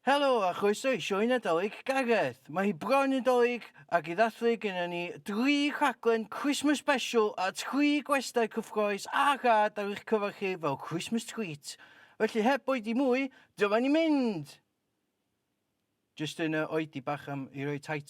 Helo a chroeso i Sioe Nadolig Gareth! Mae hi bron yn 'Dolig ac i ddathlu gynnon ni dri rhaglen Christmas Special a tri gwestai cyffroes a rhad ar eich cyfer chi fel Christmas Treat. Felly heb oedi mwy, dyma ni'n mynd! Jyst yn yy oedi bach am i roi title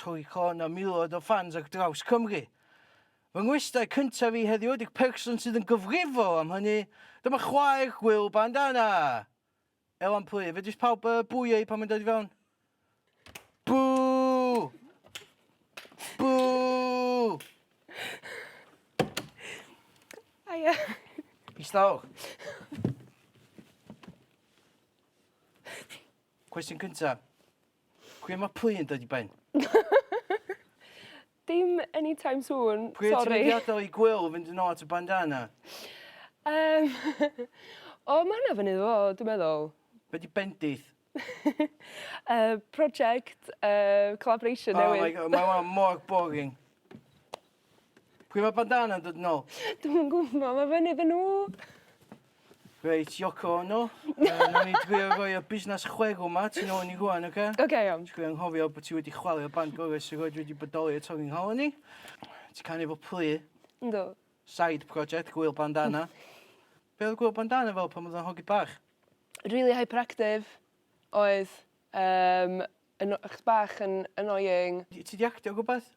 Trwy con a miloedd o ffans ar draws Cymru. Fy ngwestai cyntaf i heddiw ydy'r person sydd yn gyfrifol am hynny, dyma chwaer gwyllt bandana! Elan Pwy, fedrith pawb uh, bwio i pan mae'n dod i fewn? Bw! Bw! Aia. Istaw. Cwestiwn cyntaf. Cwia ma pwy yn dod i ben? Dim anytime soon, sori. Pwy o ti wedi adal i Gwyl fynd yn ôl at y bandana? Yym o ma' hwnna fyny fo dwi meddwl. Be' 'di bendith? Yy project yy collaboration newydd. Oh my God ma' wnna mor boring. Pwy ma bandana'n dod nôl? Dwi'm yn gwbo ma fyny iddyn n'w. Reit Yoko Ono yy nawn ni drio roi y busnas chwerw 'ma tu nôl i ni rŵan oce? Oce iawn. Ti gor'o' anghofio bo' ti wedi chwalio band gore sy rioed wedi bodoli y Tonguing Hall o'n i. Ti canu efo plu. Yndw. Side project gŵyl bandana. Be' odd gŵyl bandana fel pan o'dd o'n hogyn bach? Rili hyperactive oedd yym yn o- 'chos bach yn annoying. Ti 'di actio rwbath?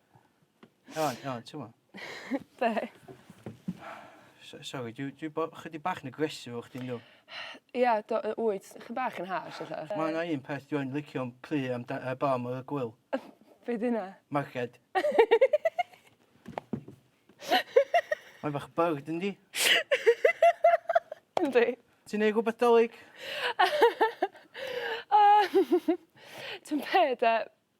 Iawn, iawn, ti'n mo? Be? So- Sori, dwi, dwi bo- chydig bach yn aggressive o chdi, ynddo. Ia, do, yy, wyt. Chydig bach yn harsh, ella. Mae yna un peth dwi yn licio am plu am da, uh, bam o'r gwyl. Be di hynna? Marced. Mae'n bach byrd, yndi? Yndi. Ti'n neud rhywbeth dolyg? Ti'n be, de?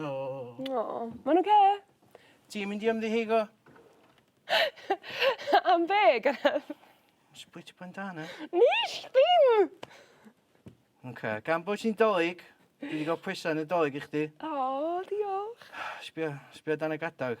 O. O, mae'n oce. Ti'n mynd i ymddiheuro? Am be, Gareth? Nes i bwyta pen da na. Nes ddim! Oce, gan bod ti'n dolig, dwi 'di ga'l pwysa Nadolig i chdi. O, diolch. Sbia, sbia dan y gadag.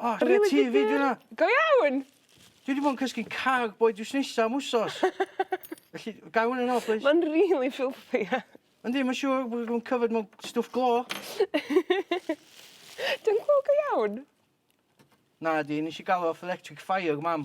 O, chwarae teg i Juna. Go iawn! Dwi 'di bod yn cysgu cag boi drws nesa am wsos. Felly gai wnna nôl plîs? Ma'n rili filthy ia. Yndi ma' siŵr bod o'n covered mewn stwff glo. Dwi'n cŵl go iawn? Nadi nesh i ga'l o off Electric Fire mam.